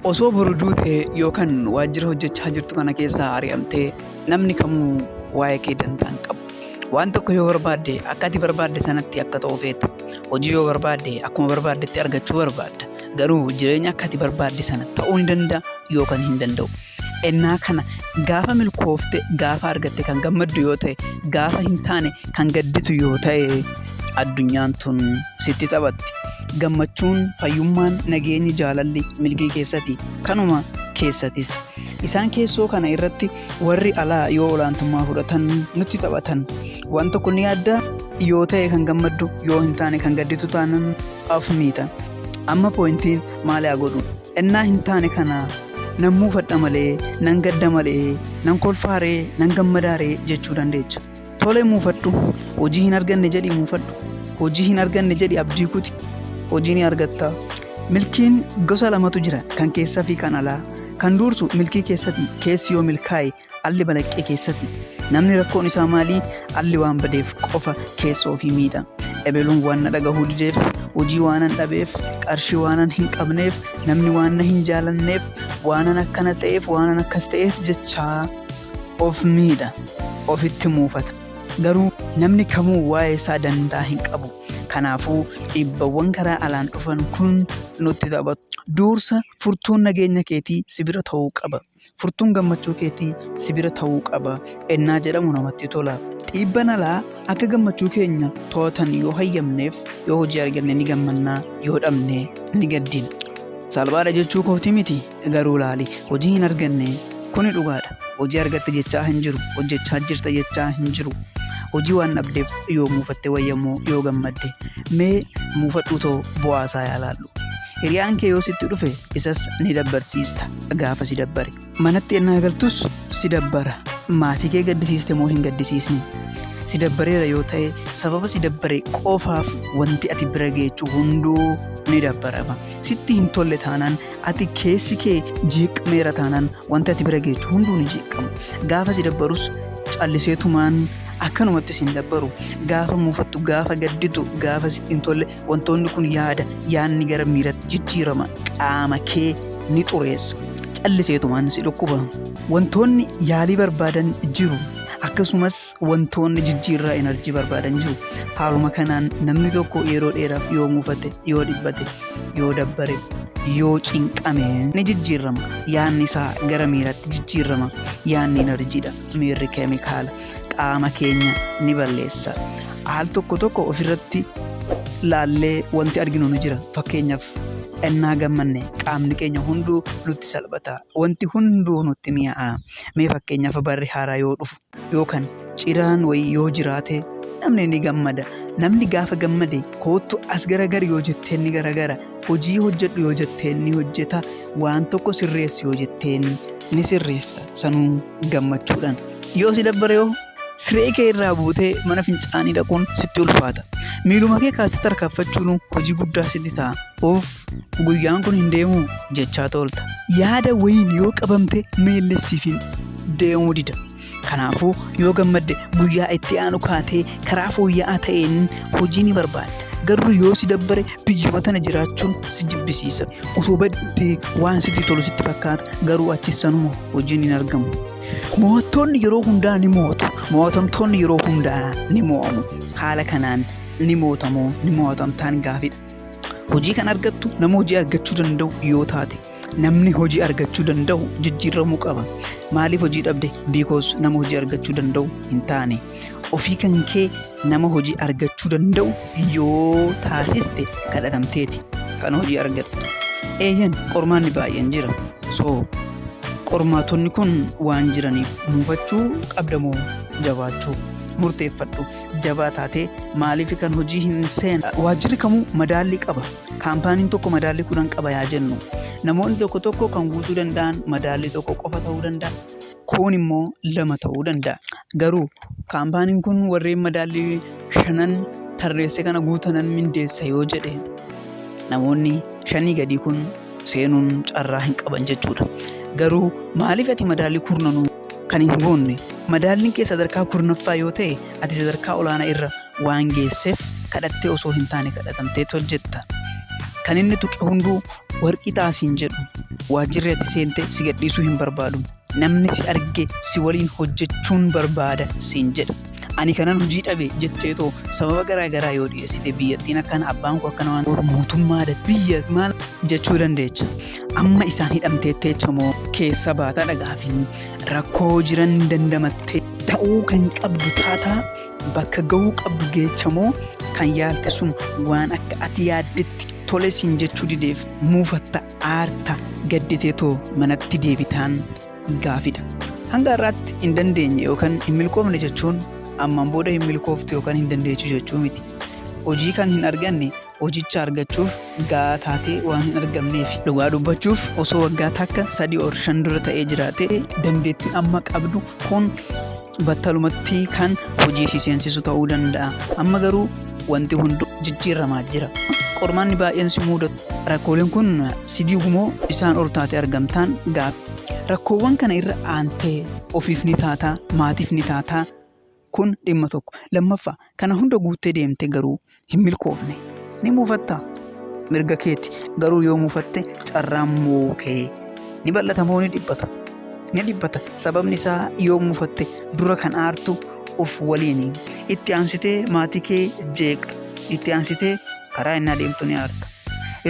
Osoo boru duute yookan waajjira hojjechaa jirtu kana keessaa ari'amtee namni kamuu waa'ee kee dantaa hin qabu. Waan tokko yoo barbaadde akka ati barbaadde sanatti akka ta'u feeta. Hojii yoo barbaadde akkuma barbaaddetti argachuu barbaadda. Garuu jireenya akka ati barbaadde sana ta'uu ni danda'a yookan hin danda'u. Ennaa kana gaafa milkoofte gaafa argatte kan gammaddu yoo ta'e gaafa hin taane kan gadditu yoo ta'e addunyaan tun sitti taphatti. gammachuun fayyummaan nageenyi jaalalli milgii keessati kanuma keessatis isaan keessoo kana irratti warri alaa yoo olaantummaa fudhatan nutti taphatan waan tokko ni adda yoo ta'e kan gammaddu yoo hin taane kan gadditu taanan af miita amma poointiin maali haa godhu ennaa hin taane kana nan muufadha malee nan gadda malee nan kolfaaree nan gammadaaree jechuu dandeecha. Tole muufadhu. Hojii hin arganne jedhi muufadhu. Hojii hin arganne jedhi abdii kuti. Hojii ni argatta. Milkiin gosa lamatu jira kan keessaa fi kan alaa. Kan duursu milkii keessati keessi yoo milkaa'e alli balaqqee keessati. Namni rakkoon isaa maalii alli waan badeef qofa keessa ofii miidha. Ebeluun waan na dhagahuu dideef hojii waanan dhabeef qarshii waanan hin qabneef namni waan na hin jaalanneef waanan akkana ta'eef waanan akkas ta'eef jechaa. of miidha, ofitti muufata. Garuu namni kamuu waa'ee isaa dantaa hin qabu. Kanaafuu dhiibbawwan karaa alaan dhufan kun nutti taphatu. Duursa furtuun nageenya keetii si bira ta'uu qaba. Furtuun gammachuu keetii si bira ta'uu qaba. Ennaa jedhamu namatti tola. Dhiibban alaa akka gammachuu keenya to'atan yoo hayyamneef yoo hojii arganne ni gammanna, yoo dhabne ni gaddina. Salphaadha jechuu kooti miti. garuu laali hojii hin arganne kuni dhugaadha hojii argatte jechaa hin jiru hojjechaa jirta jechaa hin jiru hojii waan dhabdeef yoo muufatte wayyammoo yoo gammadde mee muufadhuu too bu'aasaa yaalaallu hiriyaan kee yoo sitti dhufe isas ni dabbarsiista gaafa si dabbare manatti ennaa galtus si dabbara maatii kee gaddisiiste moo hin gaddisiisne si dabbareera yoo ta'e sababa si dabbare qofaaf wanti ati bira geechu hunduu ni dabbarama sitti hin tolle taanaan Ati keessi kee jeeqameera taanaan wanti ati bira geechu hunduu ni jeeqama. Gaafa si dabbarus callisee tumaan akkanumatti siin dabbaru. Gaafa muufattu, gaafa gadditu, gaafa sitti hin tolle wantoonni kun yaada, yaadni gara miiratti jijjiirama. Qaama kee ni xureessa. Callisee tumaan si dhukkuba. Wantoonni yaalii barbaadan jiru. Akkasumas wantoonni jijjiirraa enerjii barbaadan jiru. Haaluma kanaan namni tokko yeroo dheeraaf yoo muufate, yoo dhiphate yoo dabbare yoo cinqame ni jijjiirrama yaanni isaa gara miiratti jijjiirrama yaanni enerjiidha miirri keemikaala qaama keenya ni balleessa al tokko tokko ofirratti laallee wanti arginu ni jira fakkeenyaaf ennaa gammanne qaamni keenya hunduu nutti salphata wanti hunduu nutti mi'aa'a mee fakkeenyaaf barri haaraa yoo dhufu yookaan ciraan wayii yoo jiraate namni ni gammada namni gaafa gammade koottu as garagar yoo jetteen ni garagara hojii hojjedhu yoo jetteen ni hojjeta waan tokko sirreessi yoo jetteen ni sirreessa sanuu gammachuudhaan yoo si dabbare yoo siree kee irraa buutee mana fincaanii dhaquun sitti ulfaata miiluma kee kaasatti harkaaffachuun hojii guddaa sitti ta'a of Guyyaan kun hin deemuu jechaa toolta. Yaada wayiin yoo qabamte miilli siif hin deemuu dida. Kanaafuu yoo gammadde guyyaa itti aanu kaatee karaa fooyya'aa ta'een hojii ni barbaadda. Garuu yoo si dabbare biyyuma tana jiraachuun si jibbisiisa. Osoo baddee waan sitti tolu sitti fakkaata garuu achi sanuma hojiin hin argamu. Mo'attoonni yeroo hundaa ni mo'atu. Mo'atamtoonni yeroo hundaa ni mo'amu. Haala kanaan ni mo'atamoo ni mo'atamtaan gaafidha. Hojii kan argattu nama hojii argachuu danda'u yoo taate namni hojii argachuu danda'u jijjiiramuu qaba. Maaliif hojii dhabde? Because nama hojii argachuu danda'u hin taane. Ofii kan kee nama hojii argachuu danda'u yoo taasiste kadhatamteeti kan hojii argattu. Eeyyan qormaanni baay'een jira. So qormaatonni kun waan jiraniif muufachuu qabdamoo jabaachuu murteeffadhu. jabaa taatee maaliif kan hojii hin seen waajjirri kamuu madaallii qaba kaampaaniin tokko madaallii kudhan qaba yaa jennu namoonni tokko tokko kan guutuu danda'an madaallii tokko qofa ta'uu danda'a kuun immoo lama ta'uu danda'a garuu kaampaaniin kun warreen madaallii shanan tarreesse kana guutanan mindeessa yoo jedhe namoonni shanii gadii kun seenuun carraa hin qaban jechuudha. Garuu maaliif ati madaallii kurnanuu kan hin goonne madaalliin kee sadarkaa kurnaffaa yoo ta'e ati sadarkaa olaanaa irra waan geesseef kadhattee osoo hin taane kadhatamtee hojjetta. Kan inni tuqe hunduu warqii taasiin jedhu waajjirri ati seente si gadhiisuu hin barbaadu. Namni si arge si waliin hojjechuun barbaada siin jedha. Ani kanan hojii dhabe jettee too sababa garaa garaa yoo dhiyeessite biyyattiin akkana abbaan koo akkana waan ta'eef mootummaa da- biyya maal jechuu dandeecha. Amma isaan hidhamteetteecha moo keessa baataa dhagaafin rakkoo jiran dandamattee ta'uu kan qabdu taataa bakka ga'uu qabdu geecha moo kan yaalte sun waan akka ati yaaddetti tole siin jechuu dideef muufatta. aarta gadditee too manatti deebitaan gaafidha. Hanga har'aatti hin dandeenye yookaan hin milkoofne jechuun ammaan booda hin milkooftu yookaan hin dandeechu jechuu miti. Hojii kan hin arganne hojicha argachuuf gahaa taatee waan hin argamneef. Dhugaa dubbachuuf osoo waggaa takka sadii or shan dura ta'ee jiraate dandeettiin amma qabdu kun battalumatti kan hojii si seensisu ta'uu danda'a. Amma garuu wanti hundu jijjiirramaa jira. Qormaanni baay'een si muudatu. Rakkooleen kun si diigu moo isaan ol taate argamtaan gaaffii. Rakkoowwan kana irra aantee ofiif ni taataa, maatiif ni taataa kun dhimma tokko. Lammaffaa kana hunda guuttee deemte garuu hin milkoofne ni muufatta mirga keeti garuu yoo muufatte carraan mo'uu kee ni bal'ata moo ni dhiphata ni dhiphata sababni isaa yoo muufatte dura kan aartu of waliin itti aansitee maatii kee jeeqxa itti aansitee karaa innaa deemtu ni aarta.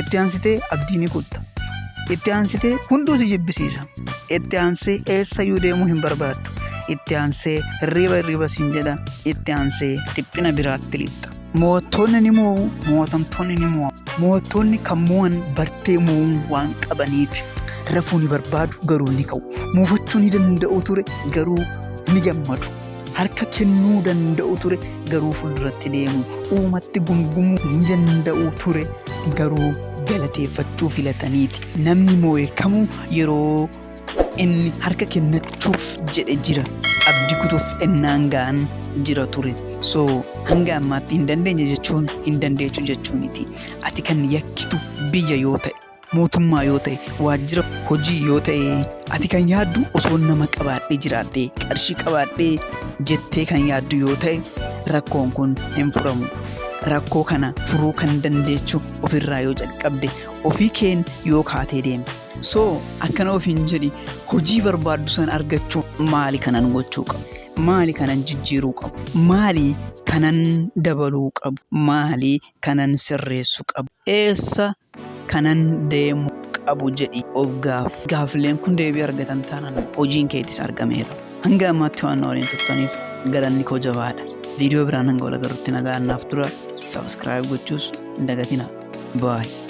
Itti aansitee abdii ni kutta. Itti aansitee hunduu si jibbisiisa. Itti aansee eessayyuu deemuu hin barbaaddu. Itti aansee hirriiba hirriiba siin jedha. Itti aansee dhiphina biraatti lixxa. Mootonni ni moo'u, mootamtoonni ni moo'u. Mootonni kan moo'an bartee moo'uun waan qabaniif rafuu ni barbaadu garuu ni ka'u. Muufachuu ni danda'u ture garuu ni gammadu. Harka kennuu danda'u ture garuu fuulduratti deemu uumatti gumgumuu ni danda'u ture garuu galateeffachuu filataniiti. Namni moo'e kamuu yeroo inni harka kennachuuf jedhe jira. Abdi kutuuf ennaan ga'an jira ture. So hanga ammaatti hin dandeenye jechuun hin dandeechu jechuuniti. Ati kan yakkitu biyya yoo ta'e. mootummaa yoo ta'e, waajjira hojii yoo ta'e, ati kan yaaddu osoo nama qabaadhee jiraadhee, qarshii qabaadhee jettee kan yaaddu yoo ta'e, rakkoon kun hin furamu. Rakkoo kana furuu kan dandeechu ofirraa yoo jalqabde, ofii keen yoo kaatee deeme. So akkana ofiin jedhi hojii barbaaddu san argachuu maali kanan gochuu qabu? Maali kanan jijjiiruu qabu? Maali kanan dabaluu qabu? Maali kanan sirreessuu qabu? Eessa kanan deemu qabu jedhi of gaaf. Gaaffileen kun deebii argatan taanaan hojiin keetis argameera. Hanga ammaatti waan na waliin turtaniif galanni koo jabaadha. Viidiyoo biraan hanga wal agarrutti nagaan naaf tura. Subscribe gochuus hin dagatina. Bye.